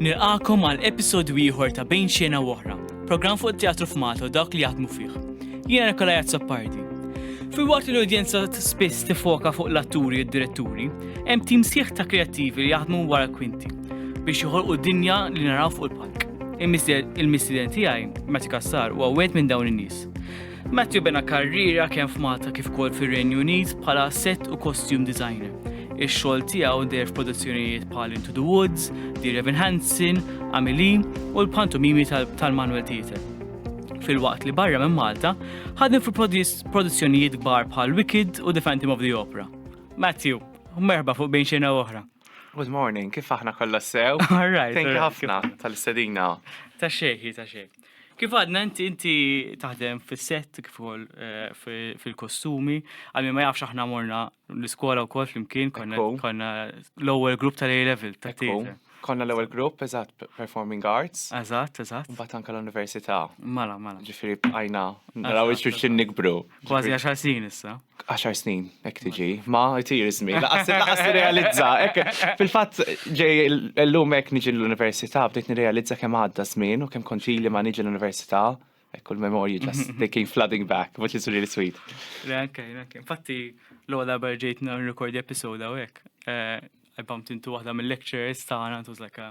Nilqakom għal episodju ieħor ta' Bejn Xena u Oħra, programm fuq it-teatru f'Malta u dawk li jaħdmu fih. Jiena Nikola Jazzapardi. Fil-waqt li l-udjenza spiss tifoka fuq l-atturi u d-diretturi, hemm tim sieħ ta' kreattivi li jaħdmu wara kwinti biex joħolqu dinja li naraw fuq il-palk. Il-missiden tiegħi, Matti Kassar, huwa wieħed minn dawn in-nies. Matthew bena karriera kemm f'Malta kif ukoll fir-Renju Unit bħala set u costume designer. Ix-xogħol tiegħu deher f'produzzjonijiet bħal Into the Woods, Dear Evan Hansen, Amelie u l-pantomimi tal-Manuel Theatre. Fil-waqt li barra minn Malta, ħadem fi produzzjonijiet kbar bħal Wicked u The Phantom of the Opera. Matthew, merħba fuq bejn xejna oħra. Good morning, kif aħna kollha sew? All right. Thank you ħafna tal-istedina. Ta' xejħi, ta' xejħi. Kif għadna inti inti taħdem fis-set kif ukoll eh, fil-kostumi, għalmi ma jafx aħna morna l-iskola wkoll flimkien konna l-ewwel grupp tal-A level ta' tieqa. Konna l-ewwel grupp eżatt performing arts. Eżatt, eżatt. Mbagħad anke l-università. Mala, mala. Ġifieri bqajna naraw iċ-ċuċin nikbru. Kważi għaxar snin issa. 10 snin, ek tiġi, ma jtir izmi, laqas realizza. Fil-fat, ġej l-lum ek niġi l-Università, bdejt nirealizza kem għadda zmin u kem konfili ma niġi l-Università. Ekku l-memorji just they came flooding back, which is really sweet. Ok, ok. Infatti, l-għola barġejt n-rekordi episoda u ek. Eh, I bumped into waħda mill-lecturers ta' għana, it was like a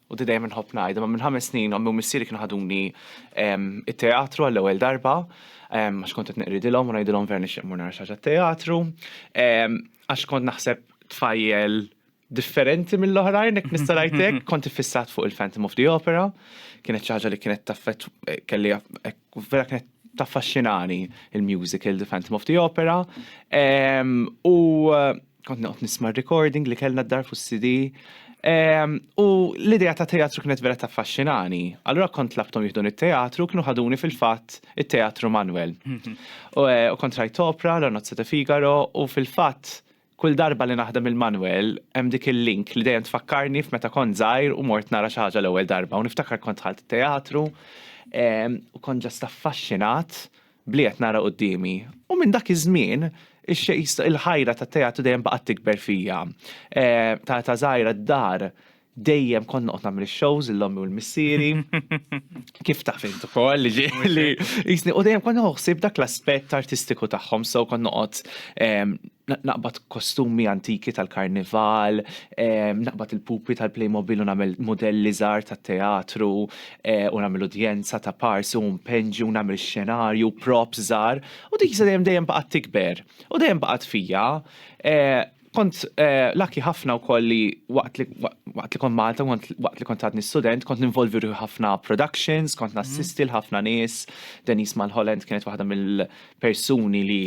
u di dejjem inħobb ngħid, imma minn ħames snin ommi u missieri kienu ħaduni it-teatru għall-ewwel darba, għax kont qed neqridilhom u ngħidilhom vera nixtieq mmur nara xi ħaġa t-teatru, għax kont naħseb tfajjel differenti mill-oħrajn, jekk nista' ngħid hekk, kont iffissat fuq il-Phantom of the Opera, kienet xi ħaġa li kienet taffett kelli vera kienet taffaxxinani il-musical The Phantom of the Opera. U Kont noqgħod nisma' r-recording li kellna d-dar fuq CD. Ehm, u l-idea ta' teatru kienet vera taffaxxinani. Allura kont tlabthom jieħdun it-teatru kienu ħaduni fil-fatt it-teatru Manuel. Mhm. Eh, u kont rajt opra, La Nozze ta' Figaro, u fil-fatt kull darba li naħdem il-Manuel hemm dik il-link li dejjem tfakkarni f'meta kont żgħir u mort nara xi ħaġa l-ewwel darba u niftakar kont ħalt teatru ehm, u kont ġast affaxxinat b'li qed nara quddiemi. U minn dak iż-żmien, il-ħajra tat-teatru dejjem baqgħet tikber fija. Ta' età żgħira d-dar dejjem kont noqgħod nagħmel ix-shows lil ommi u l-missieri. Kif taf int ukoll li ġieli. U dejjem kont nieħu ħsieb dak l-aspett artistiku tagħhom, so kont noqgħod naqbad kostumi antiki tal-karnival, ehm, naqbad il-pupi tal-Playmobil u nagħmel modelli żgħar tat-teatru eh, u nagħmel udjenza ta' parsi u mpenġi u nagħmel xenarju, props żgħar, u dik dejjem dejjem baqgħet tikber u dejjem baqgħet fija. Eh, kont eh, laki ħafna wkoll li waqt li waqt li kont Malta, waqt li kont għadni student, kont ninvolvi ruħi ħafna productions, kont mhm. nassisti l-ħafna nies. Denise Malholland kienet waħda mill-persuni li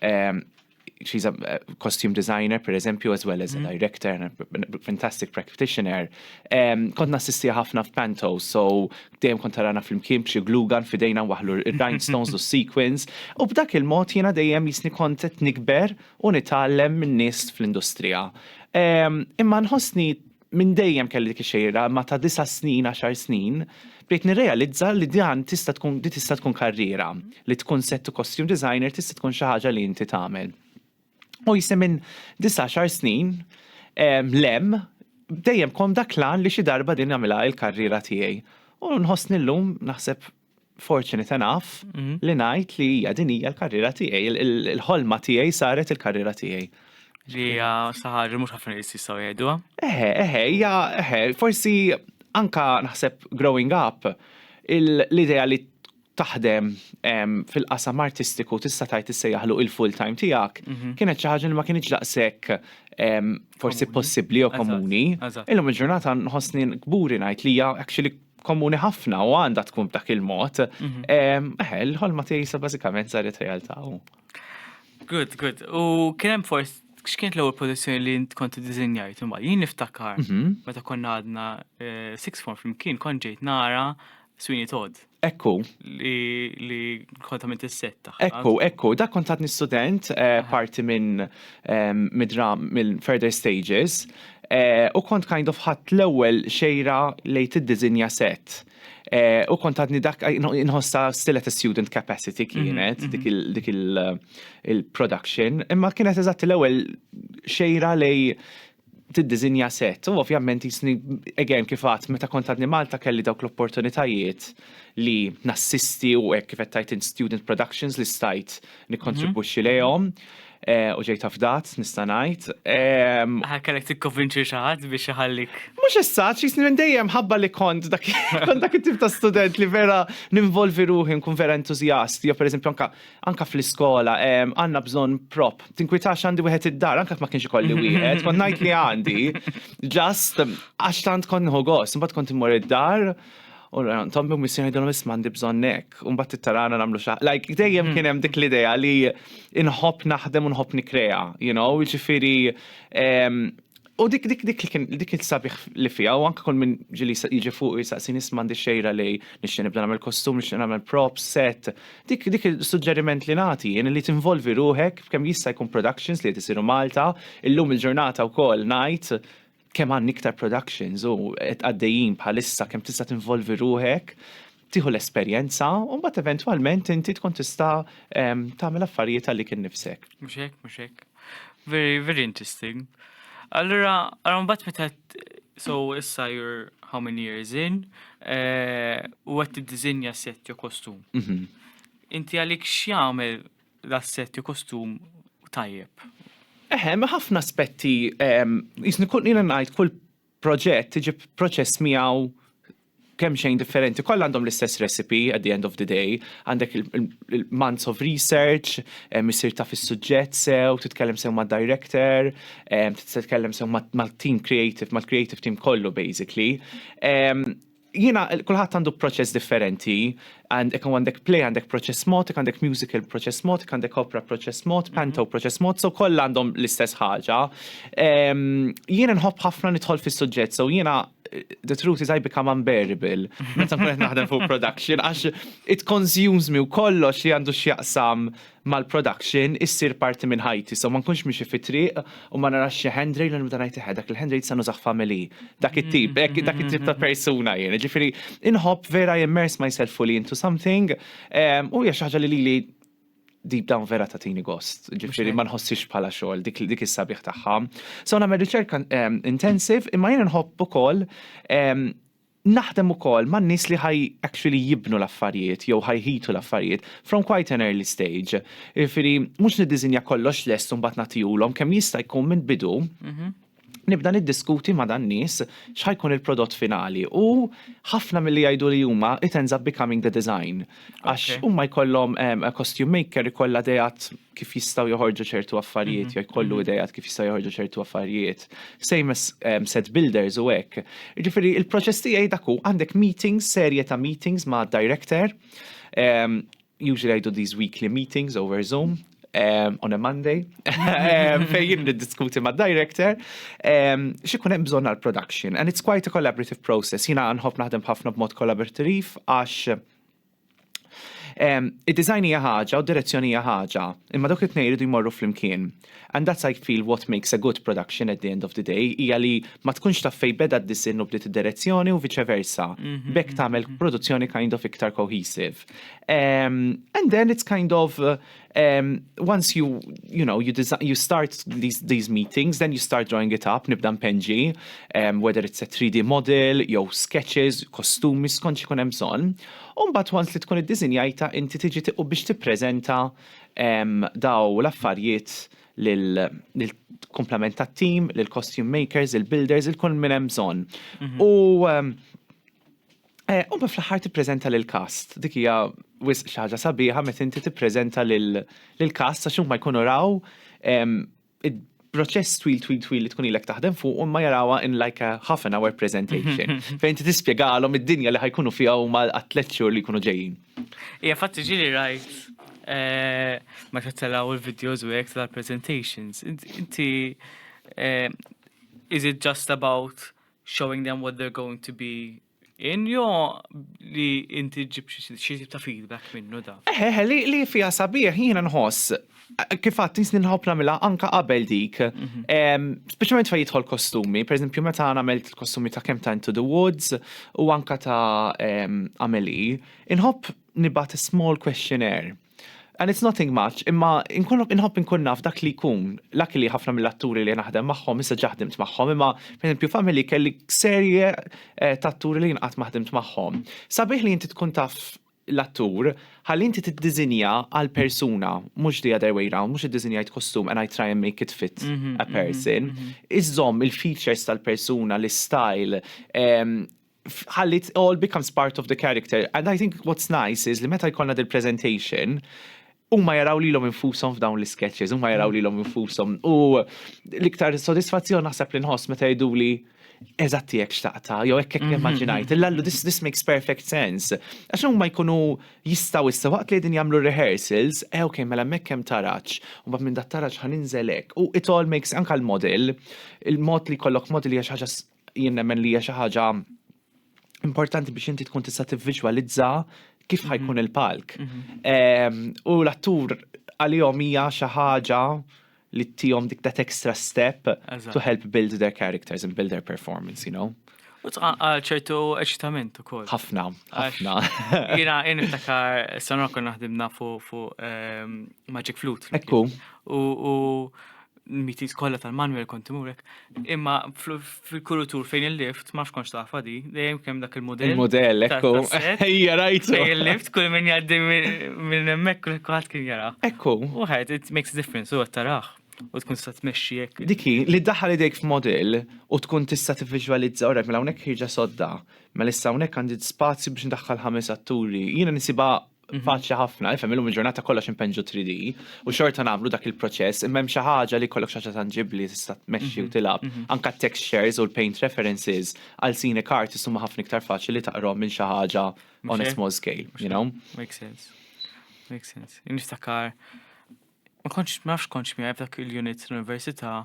Um, she's a costume designer, per eżempju, as well as a mm. director and a fantastic practitioner. Um, kont nassisti ħafna f'Panto, so dejjem kont tarana fl-imkien b'xi glugan fidejna waħlu il-rhinestones u sequins, u b'dak il-mod jiena dejjem jisni kont qed nikber u nitgħallem minn nies fl-industrija. Um, imma nħossni Minn dejjem kelli dik ix-xejra, imma ta' disa' snin, għaxar snin, bdejt nirrealizza li dan tista' tkun din tista' tkun karriera, li tkun se to costume designer tista' tkun xi ħaġa li inti tagħmel. U jsi minn disa' għaxar snin 'l hemm dejjem kont dak l-għan li xi darba din nagħmilha l-karriera tiegħi. U nħossni llum naħseb fortunate enough li ngħid li hija din hija l-karriera tiegħi, il-ħolma tiegħi saret il-karriera tiegħi. Li hija saħar mhux ħafna li jistgħu jgħiduha. Eħe, eħe, hija eħe, forsi anka naħseb growing up l-idea li taħdem fil-qasam artistiku tista' tajt issejjaħlu il-full time tiegħek, mhm. kienet xi ħaġa li ma kienx daqshekk forsi possibbli jew komuni. Illum il-ġurnata nħossni kburi ngħid li hija actually komuni ħafna u għandha tkun b'dak il-mod, mhm. eh, l-ħolma tiegħi sa bażikament saret realtà. Good, good. U kien hemm forsi x'kienet l-ewwel pożizzjoni li int kont iddiżinjajt imma jien niftakar mhm. meta konna għadna eh, six form flimkien kont ġejt nara Sweeney Todd. Ekku. Li kontament is-setta. Ekku, ekku, dak kontatni student eh, parti minn midra minn further stages u kont kind of ħadd l-ewwel xejra lejn tiddiżinja set. U kont għadni dak inħossa still at a student capacity mhm, kienet mhm. dik il-production, imma kienet eżatt l-ewwel xejra lej tiddiżinja sett u ovvjament jisni again kif għadt meta kont għadni Malta kelli dawk l-opportunitajiet li nassisti u hekk kif qed tgħid int student productions li stajt nikkontribwixxi mhm. lejhom eh, u ġejt afdat nista' ngħid. Ehm, Aħna kellek tikkonvinċi xi ħadd biex iħallik. Mhux issa, x'isni minn dejjem ħabba li kont dak kont dak it-tip ta' student li vera ninvolvi ruħi nkun vera entużjast, jew pereżempju anke anka fl-iskola, għanna bżon prop. Tinkwitax għandi wieħed id-dar, anka ma kienx ikolli wieħed, kont ngħid li għandi. Just għax tant kont nħu gost, mbagħad kont immur id-dar, u tom bi missjoni dom isma għandi bżonn hekk, u mbagħad tittarana nagħmlu xa. Like dejjem kien hemm dik l-idea li inħobb naħdem u nħobb nikrea, you know, jiġifieri U dik dik dik li kien dik il-sabiħ li fiha u anke kull minn ġili jiġi fuq jistaqsi nis m'għandi xejra li nixtieq nibda nagħmel kostum, nixtieq nagħmel prop, set. Dik dik il-suġġeriment li nagħti jien li tinvolvi ruħek f'kemm jista' jkun productions li qed isiru Malta, illum il-ġurnata wkoll ngħid kemm għandni iktar productions u qed għaddejjin bħalissa kemm tista' tinvolvi ruħek tieħu l-esperjenza u mbagħad eventwalment inti tkun tista' tagħmel affarijiet għalik innifsek. Mhux hekk, mhux hekk. Very, very interesting. Allura, għarum bat meta so issa you're how many years in eh, u għat t-dizinja set jo kostum. Mhm. Inti għalik xjamel da set jo kostum tajjeb. Eħem, ħafna aspetti, jisni kun jina najt kull proġett iġib proċess miegħu kemm xejn differenti, kollha għandhom l-istess recipe at the end of the day, għandek il-months of research, misir ta' fis-suġġett sew, titkellem sew ma' director, titkellem sew ma' team creative, ma' creative team kollu basically. Jiena kulħadd għandu proċess differenti, hekk għandek play għandek proċess mod, hekk għandek musical proċess mod, hekk għandek opera proċess mod, panto proċess mod, so kollha għandhom l-istess ħaġa. Ehm, jiena nħobb ħafna nidħol fis-suġġett, so jiena the truth is I become unbearable meta nkun qed naħdem fuq production għax it consumes me u kollox li għandu x'jaqsam mal-production issir parti minn ħajti so ma nkunx miexi fit-triq u ma narax xi handrail u nibda ngħid eħe dak il-handrail issa nużah f'għamel hi. Dak it-tip, hekk dak it-tip ta' persuna jien. Jiġifieri inħobb vera immerse myself fully into something u hija xi ħaġa li lili deep down vera tagħtini gost. Ġifieri ma nħossix bħala xogħol dik is-sabiħ tagħha. So nagħmel riċerka intensive imma jien inħobb ukoll Naħdem ukoll ma' nies li ħaj actually jibnu l-affarijiet jew ħaj jħitu l-affarijiet from quite an early stage. Jiġifieri mhux niddiżinja kollox lest u mbagħad nagħtihulhom, kemm jista' jkun minn bidu nibda niddiskuti ma' dan-nies x'ħa jkun il-prodott finali u ħafna milli jgħiduli huma it ends up becoming the design. Għax huma jkollhom costume maker ikollha dejat kif jistgħu joħorġu ċertu affarijiet, mhm, jew jkollu mhm. idejat kif jistgħu joħorġu ċertu affarijiet. Same as set builders u hekk. Ġifieri il-proċess tiegħi dak hu għandek meetings, serje ta' meetings ma' director. Usually I do these weekly meetings over Zoom, um, on a Monday, um, fejn niddiskuti ma' director, um, xikun hemm bżonn għal production. And it's quite a collaborative process. Jina nħobb naħdem ħafna b'mod kollaborativ għax um, id-design hija ħaġa u direzzjoni hija ħaġa, imma dawk it-tnejn iridu jmorru flimkien. And that's I feel what makes a good production at the end of the day, hija li ma tkunx taf fej beda d-disinn u bdiet id-direzzjoni u viċe versa. Mhm, Bekk mhm, tagħmel mhm. produzzjoni kind of iktar cohesive. Um, and then it's kind of uh, um, once you you know you design you start these these meetings, then you start drawing it up, nibda mpenġi, um, whether it's a 3D model, jew sketches, kostumi skont xikun hemm bżonn. U mbagħad once li tkun iddiżinjajta inti tiġi tiqu biex tippreżenta um, daw l-affarijiet lill-komplement tat-team, lill-costume makers, il-builders, il-kull minn hemm bżonn. Mhm. U um, Eh, u fl-aħħar tippreżenta lil kast. Dik hija wisq xi ħaġa sabiħa meta inti tippreżenta lil kast għax huma jkunu raw proċess twil twil twil li tkun ilek taħdem fuq u ma jarawa in like a half an hour presentation. Fejn ti tispjegalhom id-dinja li ħajkunu fiha u ma għatlet xhur li jkunu ġejjin. Ija fatti ġili rajt eh, ma tattalaw il-videos u jek tal-presentations. Inti eh, is it just about showing them what they're going to be in jo li inti ġib xi ta' feedback minnu da. Eħe, eh, eh, li, li fija sabiħ jiena nħoss kif għat nisni nħob namila anka qabel dik. Mhm. Speċjalment fa jidħol kostumi, per eżempju meta għamilt il-kostumi ta' kem ta' Into the Woods u anka ta' Ameli, inħob nibat small questionnaire And it's nothing much, imma inkollok inħobb inkun naf dak li jkun. Laki li ħafna mill-atturi li naħdem magħhom issa ġa ħdimt magħhom, imma pereżempju Family kelli serje eh, ta' atturi li jinqatt ma ħdimt magħhom. Sabiħ li inti tkun taf l-attur, ħalli inti tiddiżinja għal persuna, mhux the other way round, mhux iddiżinjajt kostum and I try and make it fit mhm, a mhm, person. Mhm. Iżżomm il-features tal-persuna, l-style, ehm, ħalli it all becomes part of the character. And I think what's nice is li meta jkollna dil presentation huma jaraw lilhom infushom f'dawn l-sketches, huma jaraw mm. lilhom infushom. U l-iktar sodisfazzjon naħseb li nħoss meta jgħidu li eżatti jekk xtaqta, jew hekk hekk mhm, immaġinajt, mhm. l-allu this, this makes perfect sense. Għax huma jkunu jistgħu issa waqt li din jagħmlu rehearsals, eh ok, mela hemmhekk hemm taraġġ, u mbagħad minn dat taraġġ ħaninżel hekk. U it all makes anke l-model, il-mod li kollok model hija xi ħaġa Jien nemmen li hija xi ħaġa importanti biex inti tkun tista' tivviġwalizza kif mhm. ħajkun il-palk. Mhm. U l-attur għalihom hija xi ħaġa li tihom dik that extra step to help build their characters and build their performance, you know? U tqaqqal ċertu eċitament u koll. ħafna, ħafna. Jina, jina niftakar, s-sanra kon naħdimna fuq ehm, Magic Flute. Ekku. U mitis kollha tal-Manuel kont imurek, imma fil-kurutur fejn il-lift, ma fkonx tafa di, dejjem kemm dak il-modell. Il-modell, ekku, ejja rajtu. Fejn il-lift, kull min jaddi minn emmek, kull kwaħt kien jara. Ekku. U ħed, it makes a difference, u għattaraħ. U tkun sa tmexxi jekk. Diki, li daħal idejk f'modell u tkun tista' tivviġwalizza orek mela hawnhekk ħieġa sodda. Mela issa hawnhekk għandi spazju biex ndaħħal ħames atturi. Jiena nisibha Mhm. faċli ħafna, ifhem illum il-ġurnata kollox impenġu 3D u xorta nagħmlu dak il-proċess imma hemm xi ħaġa li kollok xi ħaġa tanġibbli tista' tmexxi u mhm. tilab. Mhm. Anka textures u l-paint references għal sine kart huma ħafna iktar faċli li taqrom minn xi ħaġa on a small scale, you know? Makes sense. Makes sense. Niftakar Ma kontx, ma nafx kontx miegħi f'dak il-unit tal-Università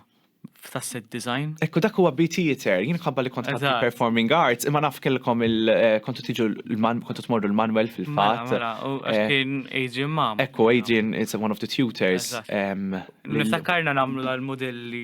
tas-set design. Hekk u dak huwa B Theatre, jien minħabba li kont ħadt il-Performing Arts, imma naf kellkom il, kontu tiġu l-Manuel, kontu tmorru l-Manuel fil-fatt. Mela, mela, u għax kien Adrian Mam. Hekk hu, Adrian is one of the tutors. Niftakkarna nagħmlu l-mudelli.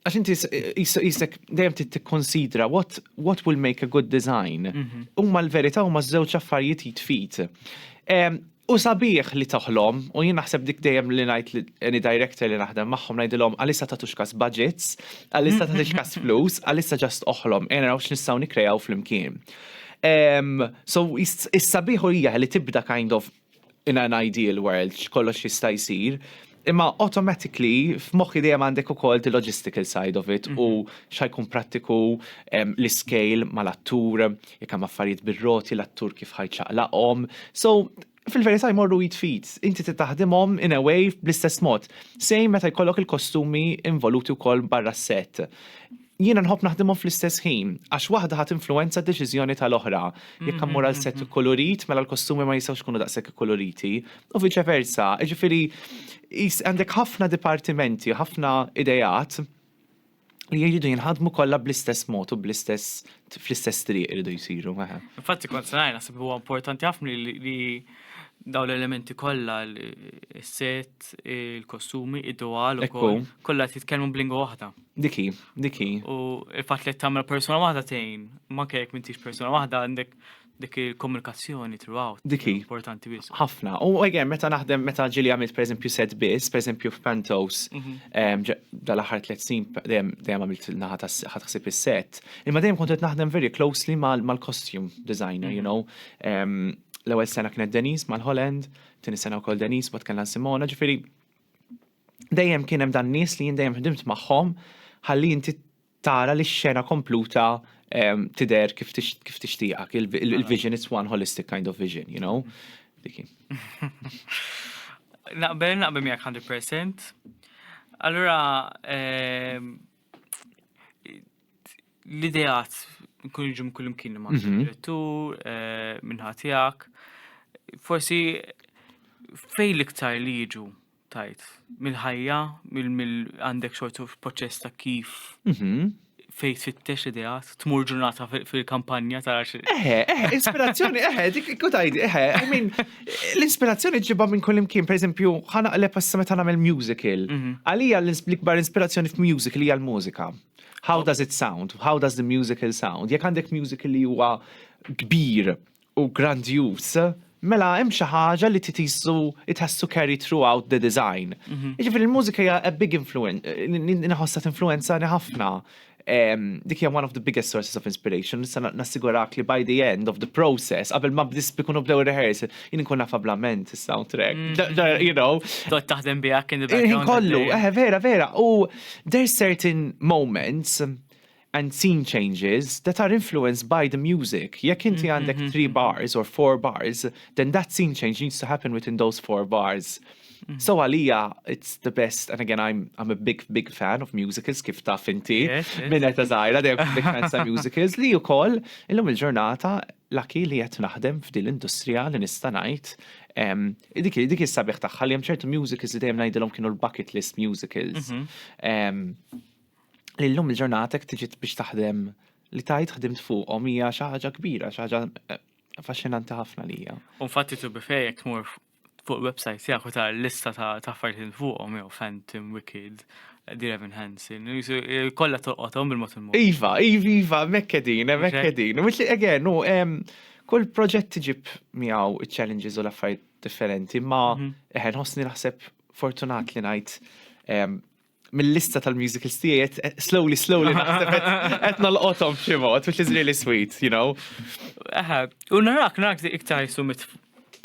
għax inti jisek dejjem tikkonsidra what, what will make a good design. Mhm. Huma l-verità huma żewġ affarijiet jitfit. U sabiħ li toħlom, u jien naħseb dik dejjem li ngħid li any director li naħdem magħhom ngħidilhom għalissa ta' tuxkas budgets, għalissa ta' tuxkas flus, għalissa ġast oħlom, e naraw x'nistgħu nikrejaw flimkien. So, is-sabiħ hija li tibda kind of in an ideal world x'kollox jista' jsir, imma automatically f'moħħi dejjem għandek ukoll the logistical side of it u mhm. xajkun prattiku l-iskejl mal-attur, jekk hemm affarijiet bir-roti l-attur kif ħajċaqlaqhom. So fil-verità jmorru jitfit, inti titaħdimhom in a way bl-istess mod. Sejn meta jkollok il-kostumi involuti wkoll barra s-set. Jiena nħobb naħdimhom fl-istess ħin, għax waħda ħa tinfluwenza d-deċiżjoni tal-oħra. Jekk mmur għal sett ikkulurit, mela l-kostumi ma jistgħux ikunu daqshekk ikkuluriti, u viċe versa. Jiġifieri għandek ħafna dipartimenti, ħafna ideat li jridu jinħadmu kollha bl-istess mod u bl-istess fl-istess triq iridu jsiru. Infatti kont ngħid naħseb huwa importanti ħafna li daw l-elementi kollha l-set, il-kostumi, id-dwal ukoll kollha titkellmu b'lingwa waħda. Diki, diki. U il-fat li tamra persona waħda tejn, ma kajek mintix persona waħda għandek dik il-komunikazzjoni throughout. Diki. Importanti bis. Ħafna. U għegħem, meta naħdem, meta ġili għamilt per eżempju set bis, per eżempju f'Pantos, mhm. dal-ħar tlet sin, dejjem għamilt naħat ħatħsib il-set. Imma dejjem kontet naħdem very closely mal-costume designer, you mhm. know. L-ewel sena kienet Denise mal-Holland, tini sena u kol Denise, bat kellna Simona, ġifiri dejjem kien hemm dan nies li jien dejjem ħdimt magħhom ħalli inti tara li x-xena kompluta ehm, tidher kif tixtieqak. Il-vision, it's one holistic kind of vision, you know? Diki. Naqbel, naqbel miegħek 100%. Allura, ehm, l-ideat nkun iġum kull imkien ma' mhm. direttur, eh, minnħatijak. Forsi fej l-iktar li jiġu tajt mill-ħajja, mill-għandek xortu proċess ta' kif mhm. fej tfittex ideat, tmur ġurnata fil-kampanja ta' xi. Eħe, eħe, ispirazzjoni, eħe, dik kutajdi, eħe, I mean, l-ispirazzjoni ġibba minn kull imkien, per eżempju, ħana għalep għassa meta nagħmel musical. Mhm. Għalija l-ikbar ispirazzjoni f'musical hija l-mużika. How does it sound? How does the musical sound? Jekk għandek musical li huwa kbir u grandjus, mela hemm xi ħaġa li titisu it has to carry throughout the design. Mhm. Jiġifieri l-mużika hija a big influence, inħossha tinfluenzani ħafna. Dik hija one of the biggest sources of inspiration, nista' nassigurak li by the end of the process, qabel ma bdis bikunu bdew rehearsal, jien nkun naf ablament is-soundtrack. Mhm. You know. Dot taħdem biha kien il-background. Kollu, eh, vera, vera. U There's certain moments and scene changes that are influenced by the music. Jekk inti għandek three bars or four bars, then that scene change needs to happen within those four bars. So għalija, it's the best, and again, I'm, I'm a big, big fan of musicals, kif taf inti, Yes, yes. minn ta' zaħira, they're big fans ta' musicals, li u koll, illum il-ġurnata, Lucky li qed naħdem f'din l-industrija li nista' ngħid dik hi dik hi s-sabiħ tagħha li hemm ċertu musicals li dejjem ngħidilhom kienu l-bucket list musicals. Li llum il-ġurnata jekk tiġi biex taħdem li tajt ħdimt fuqhom hija xi ħaġa kbira, xi ħaġa affaxxinanti ħafna lija. U infatti tu bifejek tmur fuq website tiegħek u tara l-lista ta' affarijiet li fuqhom jew Phantom, Wicked, Dear Evan Hansen, eh, kollha tolqothom bil-mod il-mod. Iva, iva, iva, mekkedin, eh, mekkedin. Which again, u kull proġett tiġib miegħu challenges u l-affarijiet differenti, ma mhm. eħen ħossni naħseb fortunat li ngħid mill-lista tal-musicals tiegħi qed slowly slowly naħseb qed nalqothom f'xi mod, which is really sweet, you know. Aha, u narak narak iktar jisu mit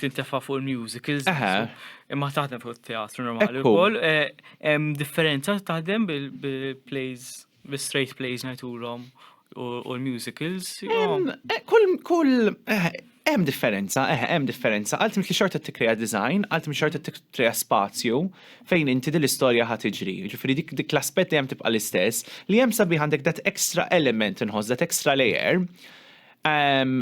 tintefa' fuq il-musicals. Aha. Imma taħdem fuq teatru normali wkoll. Eh, hemm differenza taħdem bil-plays, bil-straight plays ngħidulhom u l-musicals. Eh, kull, kull, eh, hemm differenza, eh, hemm differenza. Għaltim li xorta t-tikreja design, għaltim xorta t-tikreja spazju fejn inti din l-istorja ħat iġri. Ġifiri dik, dik l-aspet li hemm tibqa l-istess, li hemm sabi għandek dat extra element nħoss, dat extra layer. Ehm,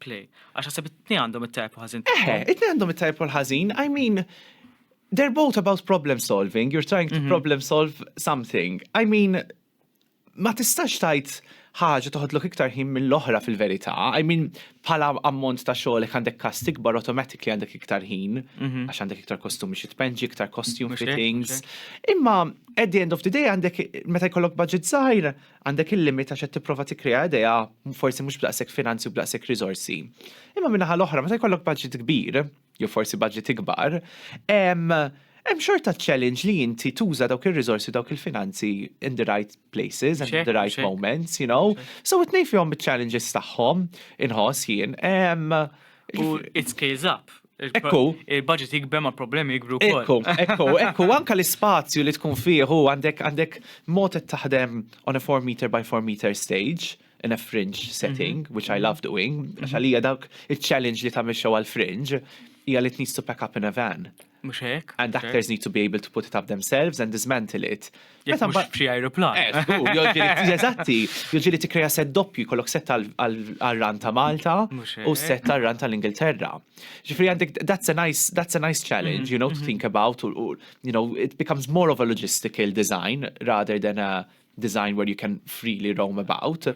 Play. Għax għasib it-tni għandhom it-tajb u ħazin. Eħe, it-tni għandhom it-tajb u l-ħazin. I mean, they're both about problem solving. You're trying to mm -hmm. problem solve something. I mean, ma tistax tajt ħaġa toħodlok iktar ħin mill-oħra fil-verità. I mean, bħala ammont ta' xogħol għandek kast ikbar automatically għandek iktar ħin, mhm. għax għandek iktar kostumi xi tpenġi, iktar costume fittings. Imma at the end of the day għandek meta jkollok budget żgħir, Għandek il-limit għax qed tipprova tikkrea idea forsi mhux b'daqshekk finanzi u b'daqshekk riżorsi. Imma min-naħa l-oħra meta jkollok budget kbir, jew forsi budget ikbar, hemm xorta challenge li inti tuża dawk ir-riżorsi u dawk il-finanzi in the right places and in the right moments, you know. So it-tnejn fihom iċ-challenges tagħhom inħoss jien. U it scales up. Ekku. Il-budget jikber ma' problemi jikbru wkoll. Ekku, ekku, ekku, anka l-ispazju li tkun fieħu għandek għandek mod taħdem on a 4 meter by 4 meter stage in a fringe mhm. setting, mm -hmm. which I mhm. love doing, għax mhm. għalija dak il-challenge li tagħmel xew għal-fringe, hija li tnis to pack up in a van. Mux hekk. And actors need to be able to put it up themselves and dismantle it. Jekk mhux f'xi ajruplan. Eh, eżatti, jiġifieri tikkreja set doppju jkollok set għar-ran ta' Malta u set għar-ran tal-Ingilterra. Ġifieri għandek that's a nice that's a nice challenge, you know, to think about u you know, it becomes more of a logistical design rather than a design where you can freely roam about.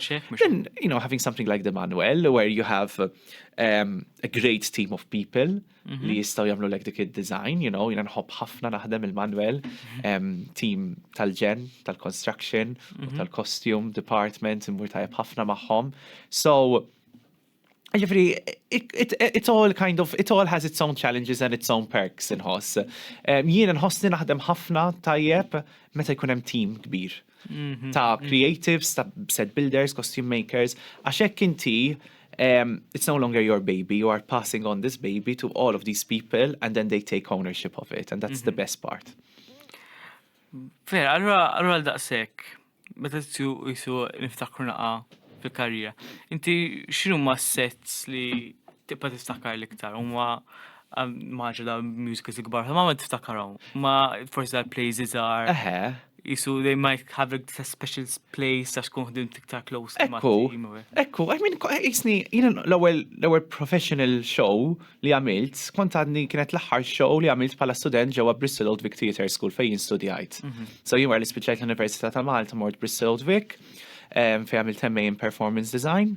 Then, you know, having something like the manual where you have um, a great team of people li mhm. jistaw jamlu lek dik id-design, you know, jina nħobb ħafna naħdem il-Manuel, mhm. team tal-ġen, tal-construction, mhm. tal-costume department, immur tajab ħafna maħħom. So, Ġifri, it all kind of, it all has its own challenges and its own perks inħoss. Jien inħossni naħdem ħafna tajjeb meta jkun hemm team kbir. mhm, ta' mhm. creatives, ta' set builders, costume makers, għax hekk inti um, it's no longer your baby, you are passing on this baby to all of these people and then they take ownership of it and that's mm -hmm. the mhm. best part. Fer, allora, allora daqsek, meta t-tju jisu niftakru naqa fil-karriera, inti xinu ma sets li Tibqa' tiftakar l-iktar, huma um, maġa da musicals ikbar, ma ma tiftakarhom, ma forsi da plays iżgħar. Eħe. Jisu, they might have a special place għax kun ħdim tiktar close. Ekku, ekku, I mean, jisni, jina l-ewel, l-ewel professional show li għamilt, kont għadni kienet l-ħar show li għamilt pala student ġewa Bristol Old Vic Theatre School fejn studjajt. Mhm. So jien għar li spiċajt l-Università ta' Malta mort Bristol Old Vic, fej għamilt temmejn performance design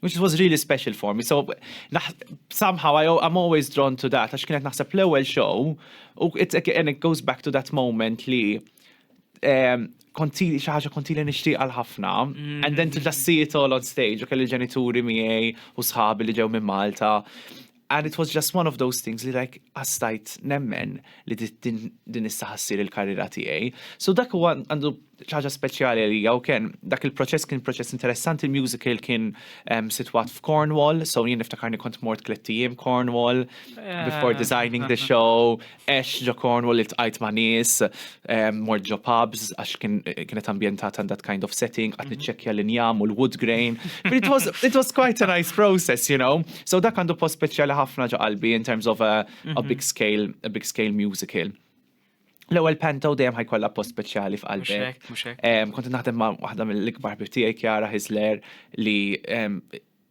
which was really special for me. So somehow I, I'm always drawn to that, għax kienet naħseb l-ewwel show, u it, and it goes back to that moment li um, konti xi ħaġa konti li nixtieq għal ħafna, and then to just see it all on stage, u kelli ġenituri miegħi u sħabi li ġew minn Malta. And it was just one of those things li like għastajt nemmen li din issa ħassir il-karriera tiegħi. So dak huwa għandu ċaġa speċjali li jew kien dak il-proċess kien proċess interessanti, il-musical kien ehm, sitwat f'Cornwall, so jien niftakarni kont mort tliet ijiem Cornwall eh. before designing the show, Għext ġo Cornwall, iltqajt ma' nies, mort ġo pubs għax kienet ambjentata in that kind of setting, qgħadt niċċekkja l-injam u l-wood grain. It was, it was quite a nice process, you know. So dak għandu post speċjali ħafna ġo qalbi in terms of a, a big scale, a big scale musical. L-ewwel panto dejjem ħajkollha post speċjali f'qalbi. Kont naħdem ma' waħda mill-ikbar bibtijaj Kjara Hisler li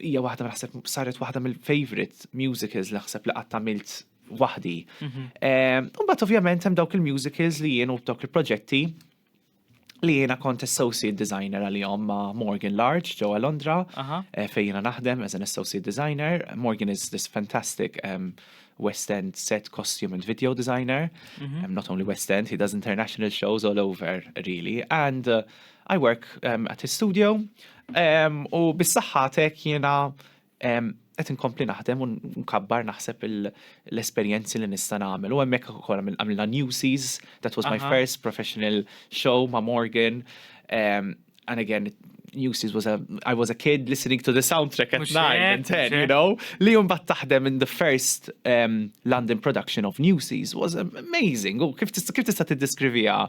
Hija waħda naħseb saret waħda mill-favorite musicals li ħseb li qatt għamilt waħdi. Mhm. Eh, u mbagħad ovvjament hemm dawk il-musicals li jien u dawk il-proġetti li jiena kont associate designer għalihom ma' Morgan Large ġewwa Londra eh, fejn jiena naħdem as an associate designer. Morgan is this fantastic um, West End set costume and video designer. Mhm. Um, not only West End, he does international shows all over really. And uh, I work um, at his studio U bis-saħħatek jiena qed inkompli naħdem u nkabbar naħseb l-esperjenzi li nista' nagħmel. U hemmhekk ukoll għamilna Newsies, that was my first professional show ma' Morgan. And again, Newsies was a, I was a kid listening to the soundtrack at nine and ten, you know? Li jum bat taħdem in the first um, London production of Newsies was amazing. U kif tista' tiddeskrivija?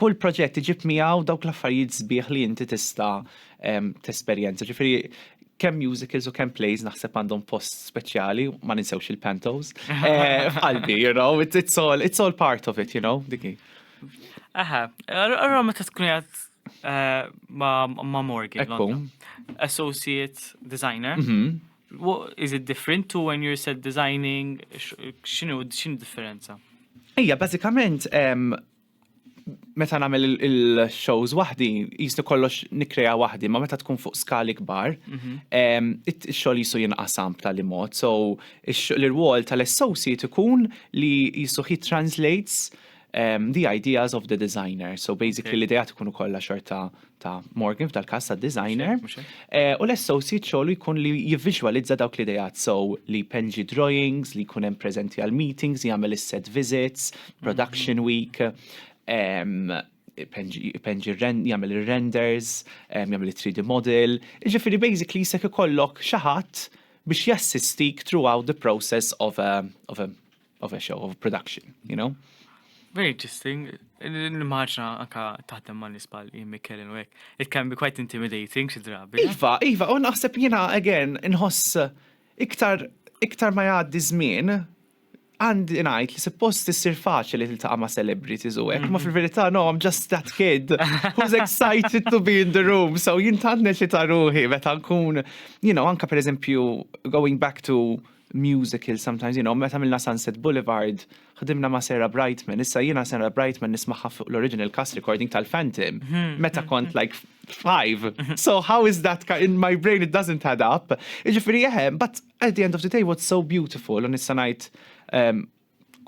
kull proġett iġib miegħu dawk l-affarijiet sbieħ li inti tista' tesperjenza. Ġifieri kemm musicals u kemm plays naħseb għandhom post speċjali, ma ninsewx il-pantos. Eh, qalbi, you know, it's, it's, all, it's all part of it, you know, diki. Aha, għarra meta tkun jgħat eh, ma' Morgan, associate designer, mhm. What is it different to when you're set designing? X'inhu x'in differenza? Ija, bażikament meta nagħmel il-shows waħdi, jisni kollox nikreja waħdi, ma meta tkun fuq skali kbar, mhm. ix-xogħol jisu jinqasam b'tali mod. So l-irwol tal-associate ikun li jisu he translates Um, the ideas of the designer. So basically okay. l-idejat ikunu kollha xorta ta' Morgan f'dal każ ta' designer. Eh, u l-associate xogħlu jkun li jivviżwalizza dawk l-idejat so li penġi drawings, li jkun hemm preżenti għal meetings, jagħmel is-set visits, production mhm. week, um, penġi jagħmel ir-renders, jagħmel it-3D model. Ġifieri basically se ikollok xi ħadd biex jassistik throughout the process of a, of a of a show, of a production, you know? Very interesting. L-marġna anka taħdem ma' nisbal jimmi kellin u għek. It can be quite intimidating xi drabi. Iva, iva, u naħseb jena, again, nħoss iktar, iktar ma jgħaddi żmien, għandi ngħid li suppost issir faċli li tiltaqa' ma' celebrities u hekk, ma mhm. fil-verità no, I'm just that kid who's excited to be in the room. So jintannet li ta' ruħi meta nkun, you know, anka pereżempju going back to musical sometimes you know meta għamilna Sunset Boulevard ħdimna ma' Sarah Brightman issa jiena Sarah Brightman nismagħha fuq l-original cast recording tal-Phantom mhm. meta kont like five mhm. so how is that in my brain it doesn't add up jiġifieri eħe but at the end of the day what's so beautiful u nista' ngħid um,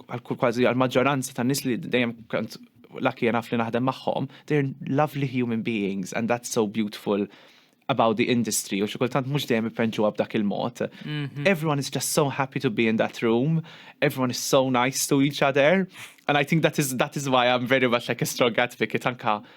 kważi għal-maġġoranza ta' nis li dejjem kant laki jenaf li naħdem maħħom, they're lovely human beings and that's so beautiful about the industry u xikultant mux dejjem ipenġu b'dak il-mod. Mhm. Everyone is just so happy to be in that room, everyone is so nice to each other, and I think that is, that is why I'm very much like a strong advocate anka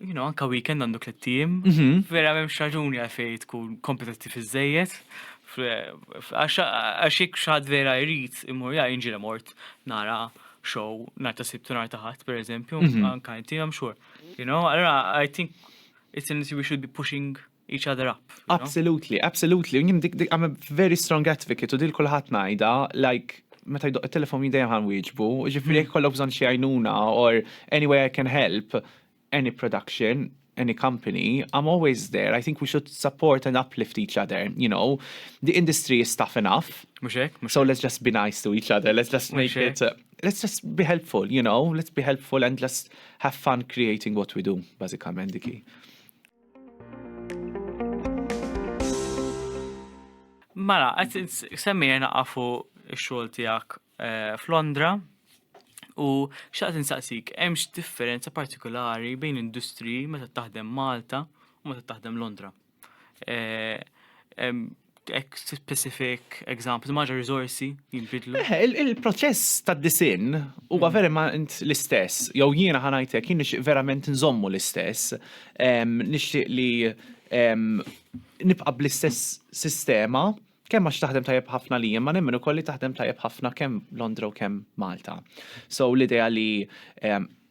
you know, anka weekend għandu tliet tim, mhm. vera m'hemmx raġuni għalfejn tkun kompetittiv iżejjed. Għax jekk xad vera jrid imur ja jinġilem mort nara show nar ta' sibtu nar ta' ħadd pereżempju, mhm. anka inti I'm sure. You know, allora I think it's an we should be pushing each other up. Absolutely, absolutely. U jim dik dik I'm a very strong advocate u dil kulħadd ngħidha like meta jdoq it-telefon jidejja ħan wieġbu, ġifri jekk kollok bżonn xi għajnuna or any way I can help any production, any company, I'm always there. I think we should support and uplift each other, you know. The industry is tough enough. Muxek, muxek. So let's just be nice to each other. Let's just make it, uh, let's just be helpful, you know. Let's be helpful and let's have fun creating what we do, basikament diki. Mara, għet semmija naqafu xol tijak eh, f'Londra u xaqt nsaqsik, hemmx differenza partikolari bejn industri meta taħdem Malta u meta taħdem Londra. Eh, specific example, maġa rizorsi jimbidlu. Eh, il-proċess ta' disin huwa verament l-istess, jew jiena ħanajtek jien nixtieq verament nżommu l-istess, nixtieq li nibqa' bl-istess sistema kemm għax taħdem tajjeb ħafna li ma nemmen ukoll li taħdem tajjeb ħafna kemm Londra u kemm Malta. So l-idea li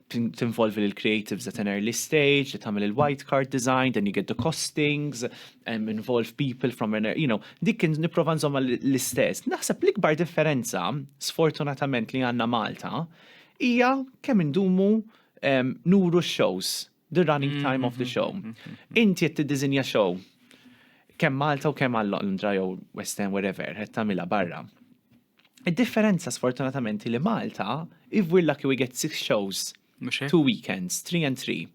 tinvolvi l creatives at an early stage, li tagħmel il-white card design, then you get the costings, um, involve people from an, you know, dik kien niprofa nżomma l-istess. Naħseb l-ikbar differenza, sfortunatament li għanna Malta, hija kemm indumu um, nuru shows, the running mm-hmm, time of the mm-hmm, show. Mm-hmm, Inti qed tiddiżinja show kemm Malta u kemm għal Londra jew West End wherever, qed tagħmilha barra. Id-differenza sfortunatament hi li Malta if we're lucky we get six shows. Mhux hekk? Two weekends, three and three.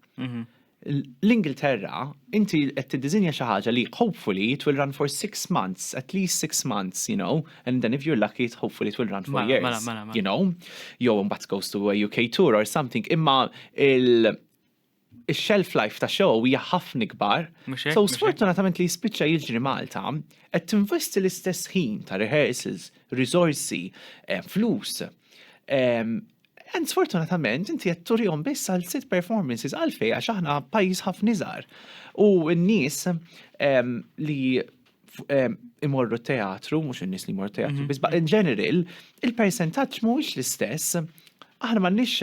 L-Ingilterra inti qed tiddiżinja xi ħaġa li hopefully it will run for six months, at least six months, you know, and then if you're lucky it hopefully it will run for Mela, years. mela, mela, mela. You know? Jew imbagħad goes to a UK tour or something. Imma il- ix-shelf life ta' show hija ħafna ikbar, so sfortunatament li jispiċċa jiġri Malta, qed tinvesti l-istess ħin ta' rehearsals, riżorsi, flus, and sfortunatament inti qed turihom biss għal sitt performances għalfejn għax aħna pajjiż ħafna iżgħar u n-nies li imorru t-teatru, mhux in-nies li jmorru teatru, biss in general, il-persentaġġ mhuwiex l-istess, aħna m'għandniex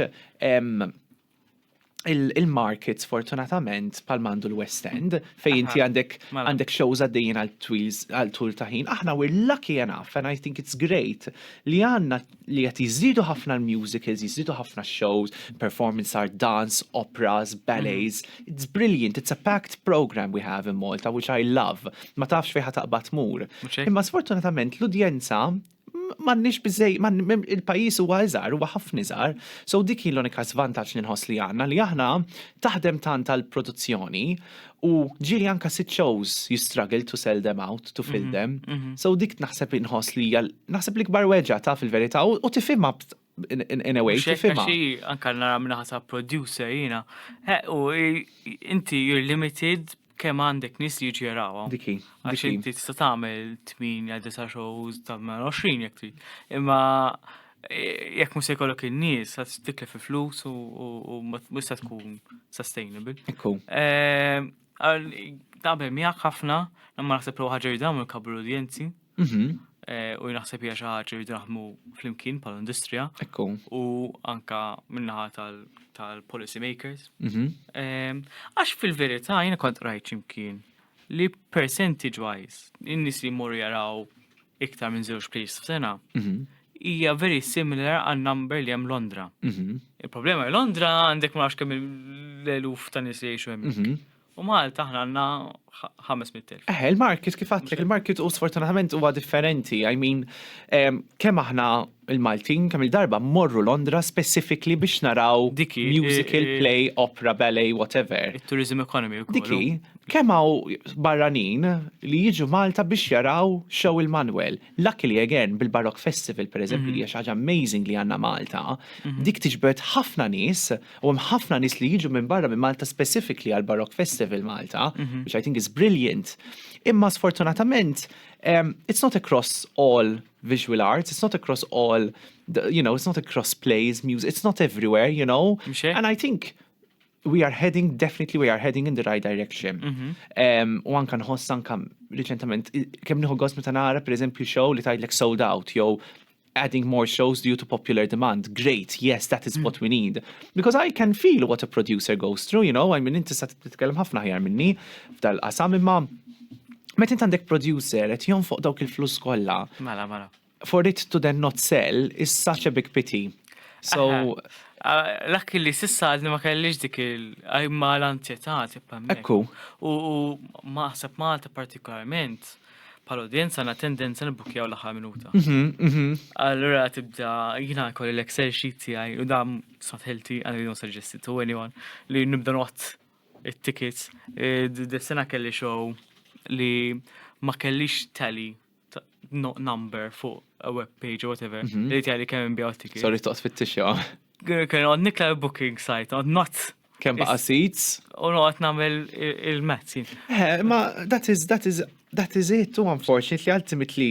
il-market sfortunatament pal mandu l-West End fej inti għandek mela. għandek shows għaddejjin għal twils għal tul ta' ħin. Aħna we're lucky enough and I think it's great li għandna li qed jiżdiedu ħafna l-musicals, jiżdiedu ħafna shows, performance art, dance, operas, ballets. Mhm. It's brilliant, it's a packed program we have in Malta which I love. Ma tafx fejn taqbad mur. Imma sfortunatament l-udjenza m'għandniex biżej, il-pajjiż huwa iżgħar, huwa ħafna iżgħar, so dik hi l-unika żvantaġġ li nħoss li għandna li aħna taħdem tant għall-produzzjoni u ġieli anke sitt shows you struggle to sell them out, to fill mhm, them. Mhm. So dik naħseb inħoss li hija naħseb l-ikbar weġa' taf il-verità u tifhimha in a way. Xifima. Anka nara minna ħasa producer jina. U inti you're limited kem għandek nis li ġeraw. Diki. Għax inti tista tagħmel 8 disa shows ta' 20 jek trid. Imma e, jekk mhux se jkollok in-nies għad tikle fi flus u mhux se tkun sustainable. Ikku. E, Għal naqbel miegħek ħafna, imma naħseb li ħaġa jridu nagħmlu kabru l-udjenzi. Mhm. Eh, u naħseb hija xi ħaġa jridu naħdmu flimkien bħal industrija. Ekku. U anka minnaħa tal-policy makers. Mhm. Eh, għax fil-verità jiena kont rajt x'imkien li percentage wise in-nies li jmorru jaraw iktar minn żewġ plays f'sena, hija very similar għal number li hemm Londra. Mhm. Il-problema li Londra għandek ma nafx kemm l-eluf ta' nies li jgħixu hemmhekk. Mhm. U Malta aħna għandna 500,000. Eh, il-market kif għatlek, il-market u sfortunatament huwa differenti. I mean, em, kemm aħna il-Maltin kemm-il darba mmorru Londra specifically biex naraw Dik hi, musical, eh, eh. play, opera, ballet, whatever. It-tourism economy wkoll. Dik hi, kemm hawn barranin li jiġu Malta biex jaraw show il-Manuel. Luckily again bil-Baroque Festival pereżempju li hija xi ħaġa amazing li għandna Malta, dik tiġbed ħafna nies u hemm ħafna nies li jiġu minn barra minn Malta specifically għal Baroque Festival Malta, which I think is brilliant. Imma sfortunatament, em, it's not across all visual arts, it's not across all, you know, it's not across plays, music, it's not everywhere, you know. And I think we are heading, definitely we are heading in the right direction. Mhm. U anka nħoss anka reċentament, kem nħu għos meta nara, per eżempju, show li tajdlek sold out, jow adding more shows due to popular demand. Great, yes, that is what we need. Because I can feel what a producer goes through, you know, I mean, inti sa titkellem ħafna ħjar minni f'dal-qasam imma Meta int għandek producer qed jonfoq dawk il-flus kollha. Mela, mela. For it to then not sell is such a big pity. So Lakki li sissa għadni ma kellix dik il-għajma l-anzjetà tibqa' Ekku. U maħseb Malta partikolarment pal-udjenza għandna tendenza nibukjaw l-aħħar minuta. Mhm, mhm. Allura tibda jiena kolli l-Excel sheet tiegħi u dam sotħilti għandi non suggesti to anyone li nibda not it-tickets. Dis-sena kelli show li ma kellix tally number fuq a web page or whatever, mhm. li tali kemm inbijaw tickets. Sorry, toqt fit-tixja. Kien għod nikla booking site, għod not. Kem baqa seats? U għod namel il-mezz. Eh, ma that is, that is, that is it, too unfortunately, ultimately,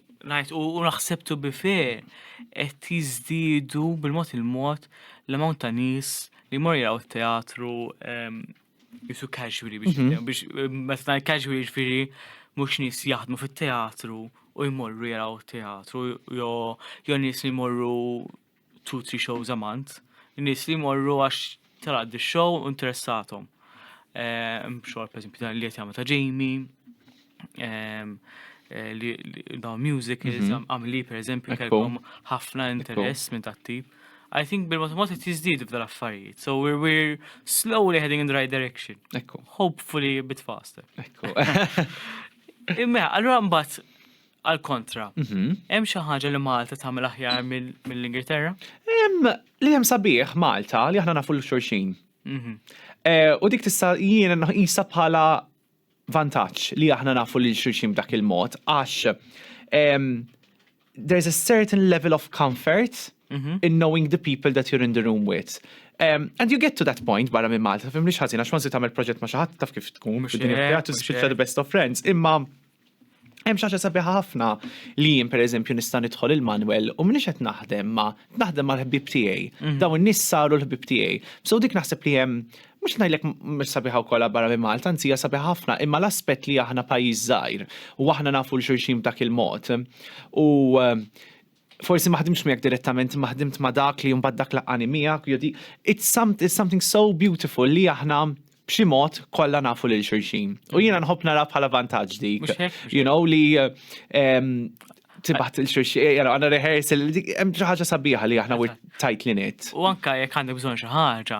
ngħid u naħseb to be fair qed jiżdiedu bil-mod il-mod l-amount ta' nies li jmorru jaraw it-teatru ehm, jisu casually biex mhm. jitkellmu biex eh, meta ngħid casually ġifieri mhux nies jaħdmu fit-teatru u jmorru jaraw it-teatru jew jew nies li jmorru two three shows a month, nies li jmorru għax tara di show u interessathom. Ehm, xogħol pereżempju dan li qed jagħmel ta' Jamie, ehm, eh, li li- dawn music li Mhm. għamli pereżempju Ekku. kellhom ħafna interess minn tat-tip. I think bil-mod mod qed jiżdiedu f'dal affarijiet. So we're, we're slowly heading in the right direction. Ekku, Hopefully a bit faster. ekku. Imma, allura mbagħad Għall-kontra, hemm xi ħaġa li Malta tagħmel aħjar mill-Ingilterra? Hemm li hemm sabiħ Malta li aħna nafu l-xulxin. Mhm. Eh, u dik tista' jien nqisha bħala vantaġġ li aħna nafu lil xulxin b'dak il-mod għax ehm, there's a certain level of comfort mhm. in knowing the people that you're in the room with. Um, and you get to that point barra minn Malta, fim li xħazina, xwansi tamel proġett ma xaħat taf kif tkun, bid-dinja teatru, xil the best of friends, imma Hemm xi ħaġa sabiħa ħafna li jien pereżempju nista' nidħol il-manwel u m'iniex qed naħdem ma' naħdem mal-ħbieb tiegħi. Mhm. Dawn in-nies saru l-ħbieb tiegħi. So dik naħseb li hemm mhux ngħidlek mhux sabiħa wkoll barra minn Malta, anzi hija sabiħa ħafna, imma l-aspett li aħna pajjiż żgħir u aħna nafu l xulxin b'dak il-mod. U eh, forsi ma ħdimtx miegħek direttament imma ħdimt ma' dak li mbagħad dak laqqani miegħek jew di it's something so beautiful li aħna b'xi mod kollha nafu lil xulxin. U jiena mm. nħobb nara bħala vantaġġ dik. You know li ehm, tibaħt il-xurxie, eh, jara, għanna rehearsal, hemm xi ħaġa sabiħa li aħna we're tight li net. U anka jekk għandek bżonn xi ħaġa,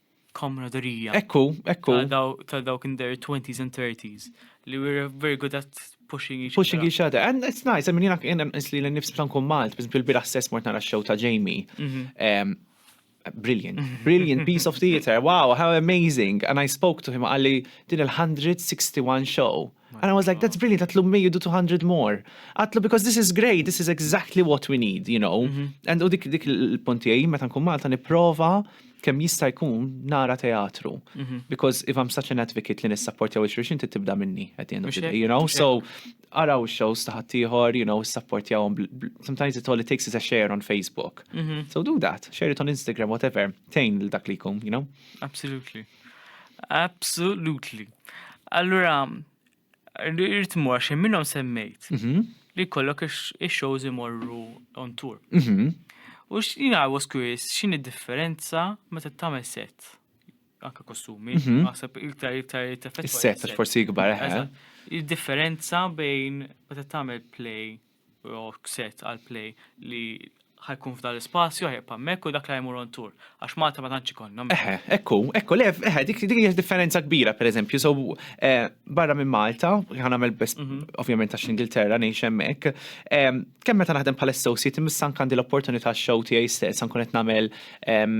komraderija. Ekku, ekku. Ta' dawk in their 20s and 30s li were very good at pushing each other. Pushing each other. And it's nice, I mean, jena jena nisli l-nifs bħan kun Malt, biz bil-bira stess mort nara show ta' Jamie. Mhm. Brilliant, brilliant piece of theater, wow, how amazing. And I spoke to him, għalli din il-161 show. And I was like, that's brilliant, għatlu may you do 200 more. Għatlu because this is great, this is exactly what we need, you know. Mm -hmm. And u dik dik il-punti għaj, meta nkun Malta niprofa kem jista jkun nara teatru. Mm -hmm. Because if I'm such an advocate li nissapporti għaw xurxin tibda minni at the end of the day, you know. So, araw shows taħat tiħor, you know, supporti għawm. Sometimes it all it takes is a share on Facebook. Mm -hmm. So do that, share it on Instagram, whatever. Tejn l-dak li kum, you know. Absolutely. Absolutely. Allura, rrit mur għax minnhom semmejt mhm. li kollok ix-shows imorru on tour. Mhm. U x'jina I was curious, x'inhi differenza meta tagħmel set? Anka kostumi, mhm. naħseb iktar iktar teffett. Is-set forsi ikbar, eh? Id-differenza bejn meta tagħmel play rock set għal play li ħajkun f'dan l-ispazju, ħajqpa hemmhekk u dak li jmur on tour. Għax Malta ma tantx ikollhom. Eħe, ekku, ekku, le, eħe, dik dik hija differenza kbira, pereżempju, so eh, barra minn Malta, ħan nagħmel biss mhm. ovvjament għax l-Ingilterra ngħix hemmhekk. Eh, kemm meta naħdem bħala associate, missan kandi l-opportunità show tiegħi stess, nkun qed nagħmel ehm,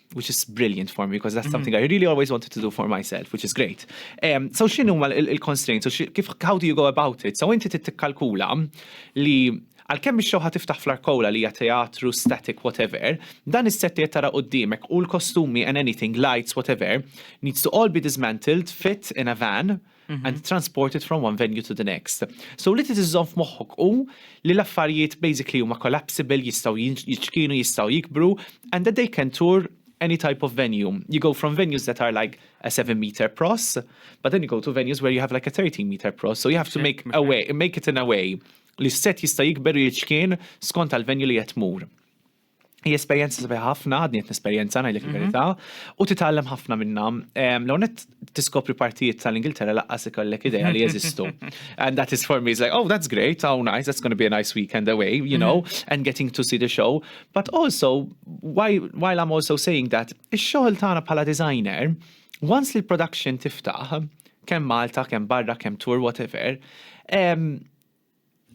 which is brilliant for me because that's mm-hmm. something I really always wanted to do for myself, which is great. Um, so xinu ma il-constraints, so kif, how do you go about it? So inti tittikkalkula li għal-kemm ix-xewħa tiftaħ fl-arkola li hija teatru, static, whatever, dan is-set li tara qudiemek u l-kostumi and anything, lights, whatever, needs to all be dismantled, fit in a van, Mhm. and transported from one venue to the next. So li titizzon f'moħħok u li l-affarijiet basically huma collapsible, jistaw jiċkinu, jistaw jikbru, and that they can tour any type of venue. You go from venues that are like a 7 meter pros, but then you go to venues where you have like a 13 meter pros. So you have to make a way, make it in a way li set jista' jikber jiċkien skont għal venue li jatmur. Hi esperjenza sabiħa ħafna, għadni qed nesperjenza ngħidlek mhm. il-verità, u titgħallem ħafna minnha. L-onet tiskopri partijiet tal-Ingilterra laqqas ikollek idea li jeżistu. And that is for me, it's like, oh, that's great, oh, nice, that's going to be a nice weekend away, you know, mhm. and getting to see the show. But also, why, while I'm also saying that, ix-xogħol tagħna bħala designer, once li l-production tiftaħ, kemm Malta, kemm barra, kemm tour, whatever, um,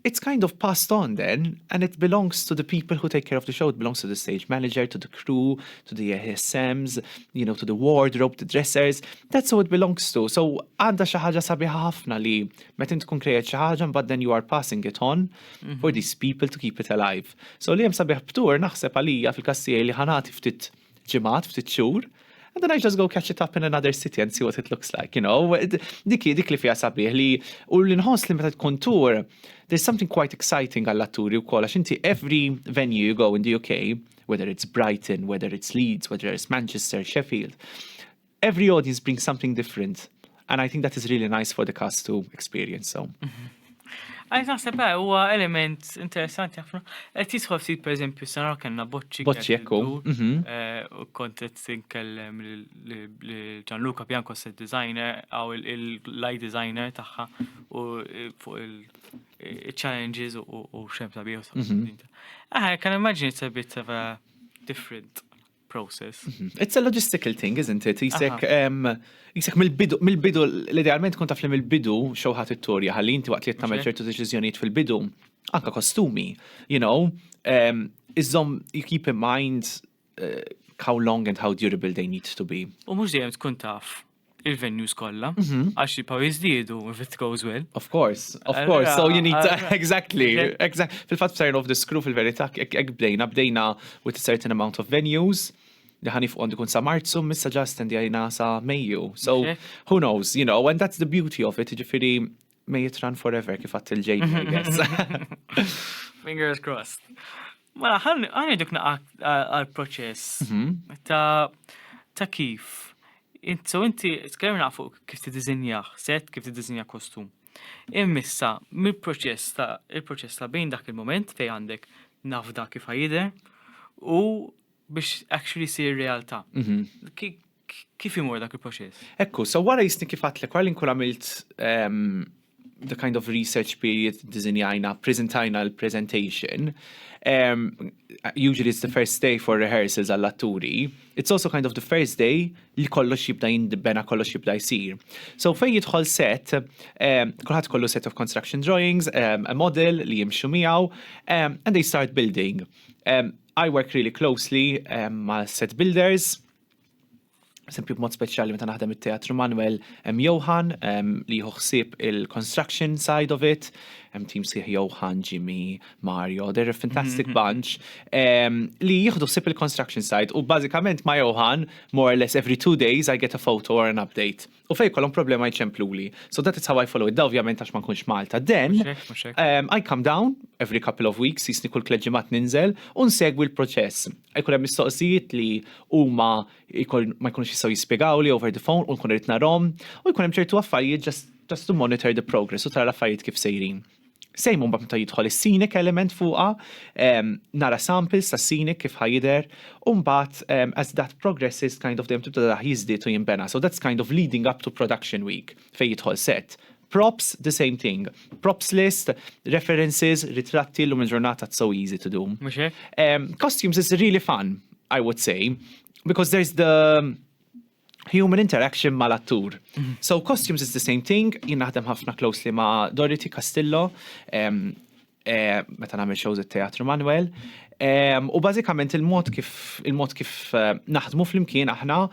It's kind of passed on then and it belongs to the people who take care of the show, it belongs to the stage manager, to the crew, to the ASMs, you know, to the wardrobe, the dressers, that's who it belongs to. So għanda xi ħaġa sabiħa ħafna li meta tkun krejat xi ħaġa mbagħad then you are passing it on mhm. for these people to keep it alive. So li hemm sabiħ btur naħseb għalija fil-kassier li ħanati ftit ġimgħat, ftit xhur, and then I just go catch it up in another city and see what it looks like, you know. Dik dik li fija sabiħ li u li nħoss li meta tkun tour, there's something quite exciting għall-atturi wkoll għax inti every venue you go in the UK, whether it's Brighton, whether it's Leeds, whether it's Manchester, Sheffield, Every audience brings something different and I think that is really nice for the cast to experience so. Għajt naħseb eh, huwa element interessanti ħafna. Qed jidħol ftit pereżempju sena kellna boċċi. Boċċi ekku. Mhm. Eh, kont qed tinkellem Gianluca Bianco set designer għaw il-light designer tagħha u eh, fuq il-challenges u xem sabiħ. Għajt mhm. kan immaġini sabit different. process. It's a logistical thing, isn't it? Jisek, jisek mill-bidu, mill-bidu, l-idealment kun taf li mill-bidu xewħat it-torja, ħalli inti waqt li jittamel ċertu deċizjoniet fil-bidu, anka kostumi, you know, iżom you keep in mind eh, how long and how durable they need to be. U mux dejjem tkun taf il-venues kollha, għax jibqgħu jiżdiedu if it goes well. Of course, of course, so you need to, exactly, exactly. Fil-fatt sign of the screw fil-verità, ek bdejna, bdejna with a certain amount of venues, li ħanif għandu kun sa marzu, missa ġast għajna sa meju. So, who knows, you know, and that's the beauty of it, ġifiri, May it run forever kif għat il-ġejn, I guess. Fingers crossed. Mela, għan iduk għal-proċess mhm. ta' kif. So inti, tkellimna fuq kif t-dizinjaħ, set kif t-dizinjaħ kostum. Immissa, mill-proċess ta' il-proċess ta' bejn dak il-moment fej għandek nafda kif ħajider u biex actually sir realtà. Mhm. Kif imur dak il-proċess? Ekku, so wara jisni kif għatlek, wara li nkun għamilt ehm, the kind of research period dizinjajna, prezentajna l-presentation, um, usually it's the first day for rehearsals għall-atturi, it's also kind of the first day li kollox jibda jindibena, kollox jibda jisir. So fej jidħol set, um, kulħadd kollu set of construction drawings, um, a model li jimxu miegħu, um, and they start building. Um, I work really closely um, ma' set builders, Sempju b'mod speċjali meta naħdem it-teatru Manuel hemm Johan li jieħu ħsieb il-construction side of it, hemm tim sieħ Johan, Jimmy, Mario, they're a fantastic mm-hmm. bunch li jieħdu ħsieb il-construction side u bażikament ma' Johan more or less every two days I get a photo or an update. u fejn jkollhom problema jċempluli. So that is how I follow it. Da ovvjament għax ma nkunx Malta. Then um, I come down every couple of weeks, jisni kull kleġimat ninżel u nsegwi l-proċess. Jkun hemm mistoqsijiet li huma ma jkunux jistgħu jispjegaw li over the phone u nkun irid narhom u jkun hemm ċertu affarijiet just just to monitor the progress u tara l-affarijiet kif sejrin. Same mbagħad meta jidħol is-scenic element fuqha, ehm, nara samples ta' scenic kif ħajder, u mbagħad ehm, as that progresses kind of dejjem tibda daħ jiżdied u jinbena. So that's kind of leading up to production week fejn jidħol set. Props, the same thing. Props list, references, ritratti l-lum il-ġurnata so easy to do. Um, costumes is really fun, I would say, because there's the human interaction mal-attur. So costumes is the same thing, jien naħdem ħafna closely ma' Dorothy Castillo, eh, meta nagħmel shows it-Teatru Manuel. U bażikament il-mod kif il-mod kif eh, naħdmu flimkien aħna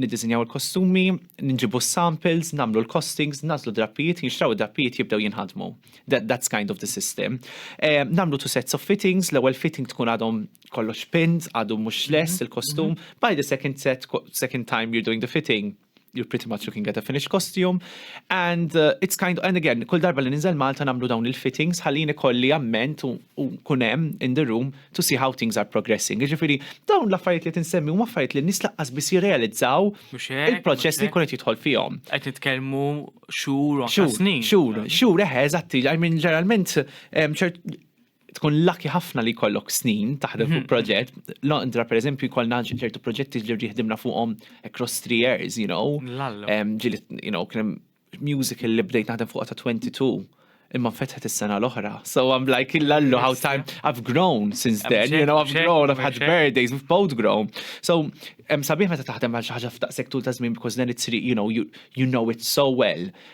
niddisinjaw il-kostumi, nġibu samples, namlu l-costings, nazlu drappijiet, jinxtraw drappijiet jibdew jinħadmu. That, that's kind of the system. Eh, namlu two sets of fittings, l-ewwel fitting tkun għadhom kollox pins, għadu mux mhm, less il-kostum, mhm. by the second set, second time you're doing the fitting, you're pretty much looking at a finished costume. And uh, it's kind of, and again, kull darba li ninżel Malta namlu dawn il-fittings, ħallini kolli amment u kunem in the room to see how things are progressing. Ġifiri, dawn l-affarijiet li tinsemmi u affarijiet li nis laqqas bis jirrealizzaw il-proċess li kunet jitħol fihom. Qed nitkellmu xhur u snin. Xhur, xhur, eħe, eżatti, I mean, ġeneralment, tkun lucky ħafna li jkollok snin taħdem fuq mhm. proġett. Londra, per eżempju, jkollna ċertu proġetti li rriħdimna fuqhom across three years, you know. Ġili, you know, kienem musical li bdejt naħdem fuq ta' 22 imma fetħet is-sena l-oħra. So I'm like, lallu, how time, I've grown since then, you know, I've grown, I've had birthdays, we've both grown. So, sabiħ meta taħdem għal xaħġa f'taqsek tul ta' żmien, because then it's, you know, you, you know it so well.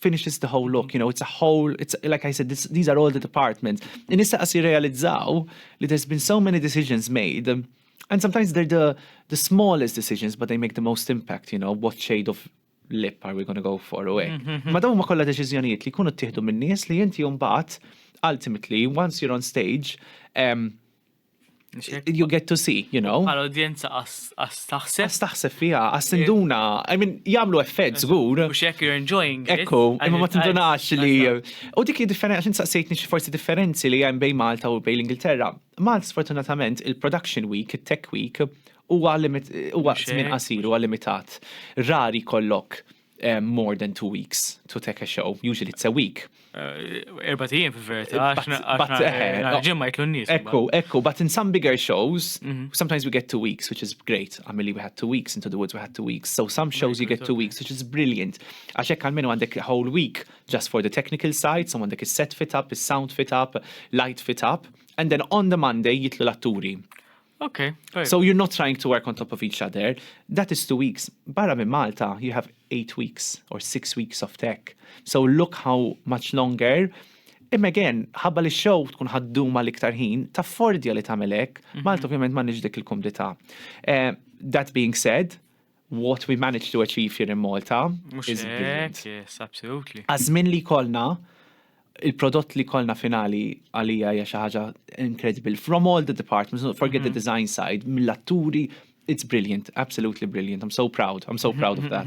finishes the whole look, you know, it's a whole, it's like I said, this, these are all the departments. In issa qas jirrealizzaw li there's been so many decisions made and sometimes they're the, the smallest decisions but they make the most impact, you know, what shade of lip are we going to go for away. Mm-hmm, mm-hmm. Ma dawn ma kollha deċiżjonijiet li jkunu ttieħdu minn nies li inti mbagħad ultimately once you're on stage um, You get to see, you know. Għal udjenza għas taħseb. Għas taħseb fija, għas tinduna. I mean, jamlu effett zgur. U xek you're enjoying. Ekku, imma ma tindunax li. U dik li differenza, għaxin saqsejtni xi forsi differenzi li hemm bej Malta u bej l-Ingilterra. Malta sfortunatament il-production week, il-tech week, huwa żmien qasir, huwa limitat. Rari kollok Eh, more than two weeks to take a show. Usually it's a week. Eh, erba tijiem fi verita, ġemma jitlu n-nis. Ekku, ekku, but in some bigger shows, mhm. sometimes we get two weeks, which is great. Għamili we had two weeks, into the woods we had two weeks. So some shows you get two weeks, which is brilliant. Għaxek għalmenu għandek whole week just for the technical side, some għandek set fit up, sound fit up, light fit up, and then on the Monday jitlu l-atturi. Okay. Right. So you're not trying to work on top of each other. That is two weeks. Barra minn Malta, you have eight weeks or six weeks of tech. So look how much longer. Im again, ħabba li show tkun ħadduma l-iktar ħin, ta' fordja li tamelek, mhm. Malta ovvjament ma dik il-kumdita. Eh, that being said, What we managed to achieve here in Malta is brilliant. Yes, absolutely. Għazmin li kolna, il-prodott li kolna finali għalija hija xi ħaġa incredible. From all the departments, forget the mhm. design side, mill-atturi, it's brilliant, absolutely brilliant. I'm so proud, I'm so proud of that.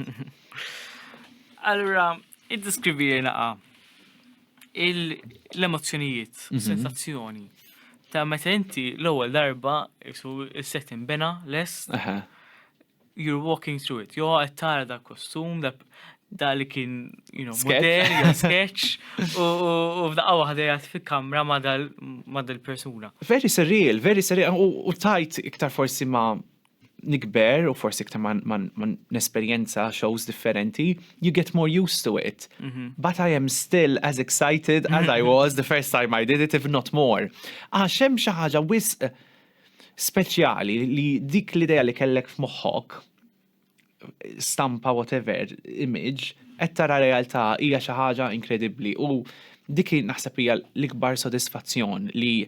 Allura, Iddeskrivi li naqa l-emozzjonijiet, mhm. sensazzjoni ta' meta inti l-ewwel darba isu is-set inbena lest. You're walking through it. Jo qed tara da kostum, da li kien, you know, model, jew sketch, u f'daqqa waħda jgħat fi kamra ma' dal-persuna. Very surreal, very surreal, u tajt iktar forsi ma' nikber u forsi iktar ma nesperjenza shows differenti, you get more used to it. Mhm. But I am still as excited as I was the first time I did it, if not more. Għax hemm xi ħaġa wisq speċjali li dik l-idea li kellek f'moħħok stampa whatever image qed tara realtà hija xi ħaġa inkredibbli u dik naħseb hija l-ikbar sodisfazzjon li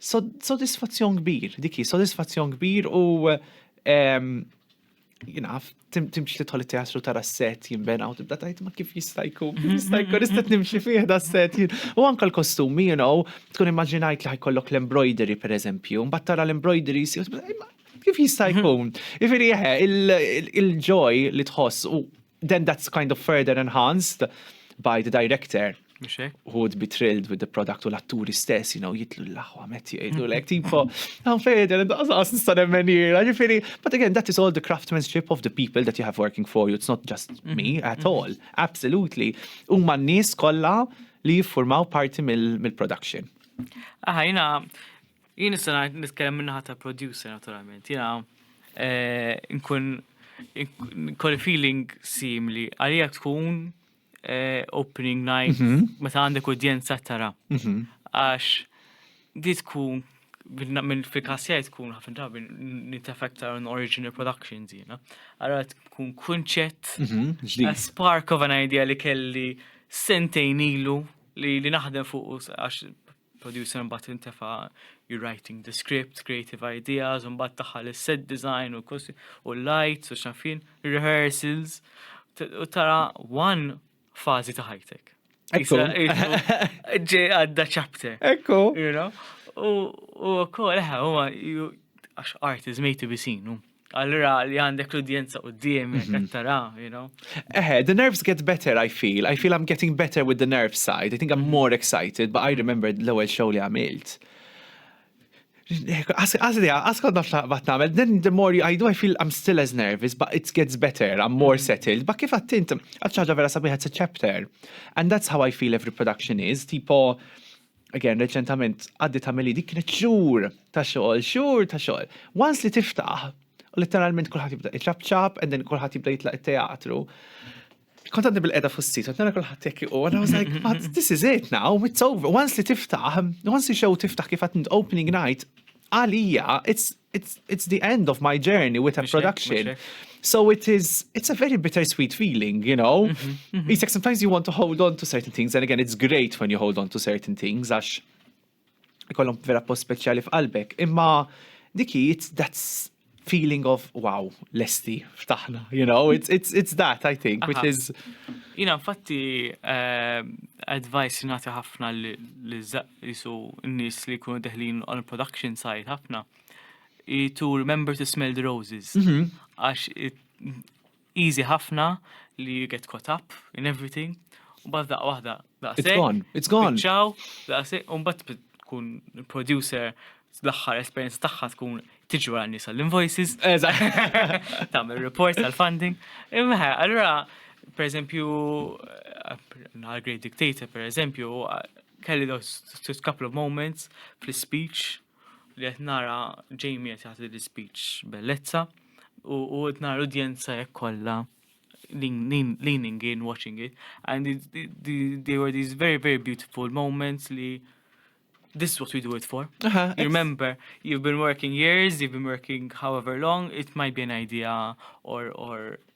Sodisfazzjon kbir, dik hi sodisfazzjon kbir u ehm, jinaf, timx li tħolli teatru tara s-set jimbena u tibda tajt ma kif jista' jkun, kif jista' mhm, jkun, istat mhm. nimxi fih da s-set. U anka l-kostumi, you know, tkun immaġinajt li ħajkollok l-embroidery per eżempju, mbatt tara l-embroidery si kif jista' mhm. jkun. Ifiri jeħe, il-ġoj li tħoss u then that's kind of further enhanced by the director who would be thrilled with the product u l-atturi stess, you know, jitlu l-laħwa metti jgħidu l-ek, tipo, għan fejda, għas nistan emmen jira, ġifiri, but again, that is all the craftsmanship of the people that you have working for you, it's not just mm-hmm. me at mm-hmm. all, absolutely. U man nis kolla li jiffurmaw parti mill-production. Aħajna, Jien nista' ngħid nitkellem min-naħa ta' producer naturalment. Jiena eh, nkun kolli feeling simli għalija tkun eh, opening night mhm. meta għandek udjenza tara. Mhm. Għax di tkun minn fil-kassija tkun ħafna drabi nitafekta on original productions jina. Għara tkun kunċett, mhm, a spark of an idea li kelli sentejn ilu li naħdem fuq għax producer mbagħad intefa' you're writing the script, creative ideas, mbagħad taħal is-set design u kosi u lights u xafin, rehearsals u tara one fażi ta' ħajtek. Ekku. Ġej għadda chapter. Ekku. U wkoll eħe huwa għax art is made to be seen. Allura li għandek l-udjenza u d-diem, mhm. tara, you know. Eħe, the nerves get better, I feel. I feel I'm getting better with the nerve side. I think I'm mhm. more excited, but I remember l-ewel show li għamilt. Għazli, għazkod naf bat namel, then the more I do, I feel I'm still as nervous, but it gets better, I'm more mm. settled. But kif għattint, għadċaġa vera sabiħat it's a chapter. And that's how I feel every production is, tipo, again, reċentament għaddi ta' meli dik kienet xhur ta' xogħol, xhur ta' xogħol. Once li tiftaħ, letteralment kulħadd jibda iċabċab, and then kulħadd jibda jitlaq it-teatru. Kont għadni bil-qeda fuq sit, għadna kulħadd jekk u għadna was like, but this is it now, it's over. Once li tiftaħ, once li show tiftaħ kif għatni opening night, għalija, it's it's, it's the end of my journey with a production. So it is, it's a very bittersweet feeling, you know? Mm -hmm, mm -hmm. sometimes you want to hold on to certain things, and again, it's great when you hold on to certain things, għax ikollhom vera post speċjali f'qalbek. Imma diki, it's, that's feeling of wow, lesti, ftaħna, you know, it's, it's, it's that, I think, Aha. which is. Jina, infatti, uh, advice nati ħafna li jisu n-nies li jkunu deħlin on production side ħafna, to remember to smell the roses. Mhm. Għax easy ħafna li you get caught up in everything, u bad daqqa wahda, daqqa It's gone, it's gone. Ciao, daqqa se, un bat tkun producer l-axħar esperienza tagħha tkun tiġi wara nisa l-invoices. Tagħmel reports tal-funding. Imma allura, per eżempju, għal Great Dictator, per eżempju, Kelli those couple of moments fl-ispeech li qed nara Jamie qed jagħti l-ispeech bellezza u qed nara l-udjenza hekk kollha leaning in, watching it, and it, it, they were these very, very beautiful moments li this is what we do it for. Uh -huh, you remember, you've been working years, you've been working however long, it might be an idea or, or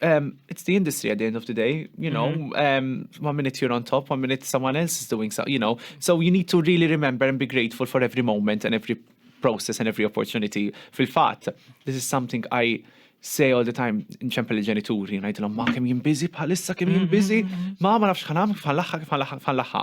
Um, it's the industry at the end of the day, you know. Mm -hmm. um, one minute you're on top, one minute someone else is doing so, you know. So you need to really remember and be grateful for every moment and every process and every opportunity. Fil-fat, this is something I say all the time in ċempel il-ġenituri, najdilom ma kem jimbizi bħalissa kem jimbizi, mm-hmm. ma ma nafx ħanam kif ħanlaħħa kif ħanlaħħa.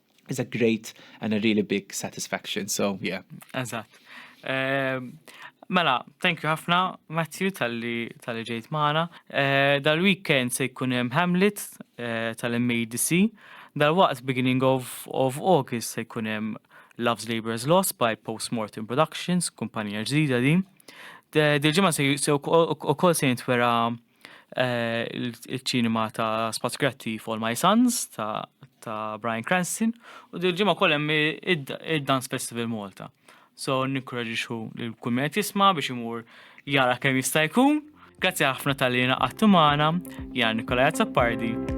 is a great and a really big satisfaction. So, yeah. Eżatt. Ehm, mela, thank you ħafna, Matthew, tal-li tal ġejt maħna. Eh, dal-weekend se jkun hemm Hamlet eh, tal-MADC. Dal-waqt beginning of, of August se jkun hemm Love's Labor's Lost by Postmortem Productions, kumpanija ġdida din. Dil-ġimgħa se wkoll se jintwera il-ċinema ta' Spazz Kreattiv All My Sons ta' ta' Brian Cranston u dil ġimgħa wkoll hemm id-Dance Festival Malta. So nikkoraġixxu lil kull min qed jisma' biex imur jara kemm jista' jkun. Grazzi ħafna tal-li naqattu magħna, Jan Nikolaj Zappardi.